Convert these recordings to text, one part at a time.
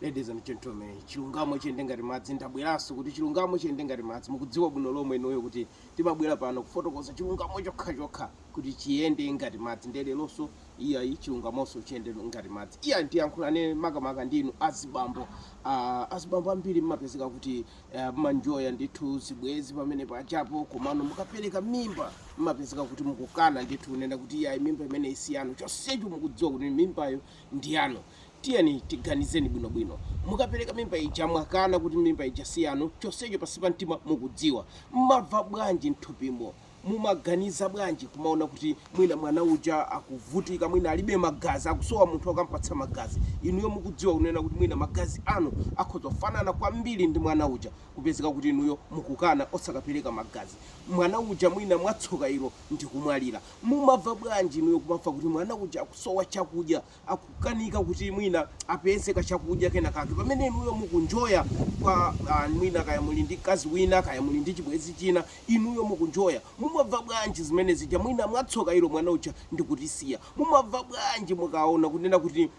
Ladies and gentlemen, chilungamo chiyende ngati madzi, ndabweranso kuti chilungamo chiyende ngati madzi, mukudziwa bwino lomwe inuyo kuti timabwera pano kufotokoza chilungamo chokha chokha kuti chiyende ngati madzi ndiye lelonso iyayi chilungamonso chiyende ngati madzi. Iyayi tiyankhulane makamaka ndi inu azibambo, aah azibambo ambiri mmapezeka kuti eeh mmanjoya ndithu zibwezi pamene pachapo komano mukapereka mimba mmapezeka kuti mukukana ndithu kunena kuti iyayi mimba imeneyi siyanu chonsecho mukudziwa kuti mimbayo ndiyanu. Tiyeni tiganizeni bwino bwino. Mukapereka mimba ija mwakana kuti mimba ija si yanu chonsecho pansi pa mtima mukudziwa. Mmamva bwanji mthupimo? Mumaganiza bwanji kumaona kuti mwina mwana uja akuvutika mwina alibe magazi akusowa munthu okampatsa magazi. Inuyo mukudziwa kunena kuti mwina magazi anu akhoza kufanana kwambiri ndi mwana uja kupezeka kuti inuyo mukukana osakapereka magazi. Mwana uja mwina mwatsoka ilo ndikumwalira. Mumamva bwanji inuyo kumamva kuti mwana uja akusowa chakudya. akukanika kuti mwina apeze kachakudya kenakake pamene inuyo mukunjoya kwa ah, mwina kaya muli ndi mkazi wina kaya muli ndi chibwezi china inuyo mukunjoya mumamva bwanji zimene zija mwina mwatsoka ilo mwana uja ndikutisiya mumamva bwanji mukaona kunena kuti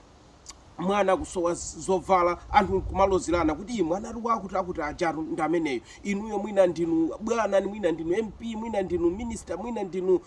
mwana akusowa zovala anthu kumalozerana kuti mwana ali wakuti wakuti ujatu ndi ameneyo inuyo mwina ndinu bwana mwina ndinu mp mwina ndinu minister mwina ndinu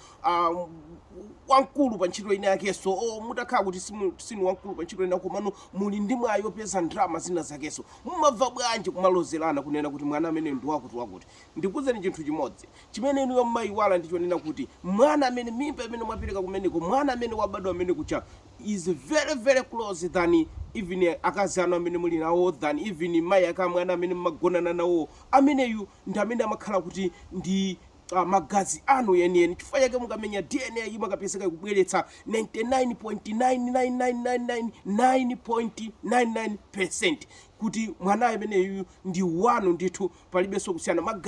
wamkulu pa ntchito ina yakenso olo mutakhala kuti sinu wamkulu pa ntchito ina komano muli ndi mwayi opeza ndalama zina zakenso mumamva bwanji kumalozerana kunena kuti mwana ameneyo ndi wakuti wakuti ndikuuzeni chinthu chimodzi chimene inuyo mmayiwala ndi chonena kuti mwana amene mimba imene mwapereka kumeneko mwana amene wabadwa ameneyu uja is very very close than even akazi anu amene muli nawo than even mayi ake a mwana amene mmagonana nawo ameneyu ndi amene amakhala kuti ndi magazi anu enieni. Chifukwa chake mukamenya DNA imakapezeka ikubweretsa 99.99999.99% kuti mwana ameneyu ndi wanu ndithu, palibenso kusiyana ma-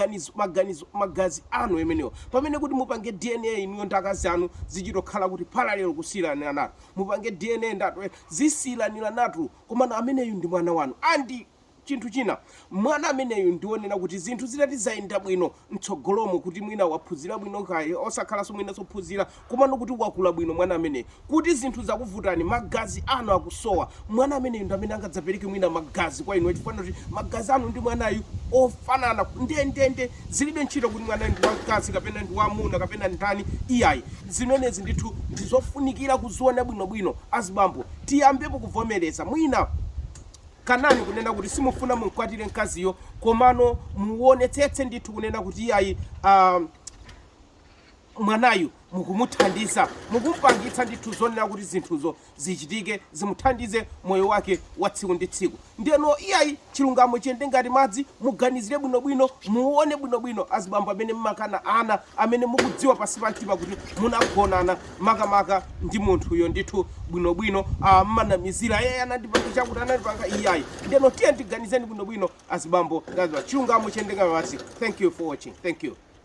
magazi anu amenewo. Pamene kuti mupange DNA inuyo ndi akazi anu zichitokhala kuti parallel kusiyiraniranatu, mupange DNA ndi anthu zisiyiraniranatu, komano ameneyu ndi mwana wanu and Chinthu china, mwana ameneyu ndionena kuti zinthu zitati zayenda bwino mtsogolomo kuti mwina waphunzira bwino kaya osakhalanso mwina osaphunzira komano kuti wakula bwino mwana ameneyu kuti zinthu zakuvutani magazi anu akusowa mwana ameneyu ndi amene angadzapereke mwina magazi kwa inu chifukwa choti magazi anu ndi mwanayu ofanana ndendende zilibe ntchito kuti mwanayu ndi wamkazi kapena ndi wamuna kapena ndani iyayi zimenezi ndithu ndizofunikira kuziona bwinobwino azibambo tiyambepo kuvomereza mwina Kanani kunena kuti simufuna mumkwatire mkaziyo komano muwonetsetse ndithu kunena kuti iyayi aah mwanayu mukumuthandiza mukumpangitsa ndithu zonena kuti zinthuzo zichitike zimuthandize moyo wake wa tsiku ndi tsiku ndeno iyayi chilungamo chiyende ngati madzi muganizire bwinobwino muwone bwinobwino azibambo amene mmakana ana amene mukudziwa pansi pa mtima kuti munagonana makamaka ndi munthuyo ndithu bwinobwino mmanamizira iyayi anandipanga chakuti anandipanga iyayi ndeno tiye tiganizeni bwinobwino azibambo ngazwa chilungamo chiyende ngati madzi thank you for watching thank you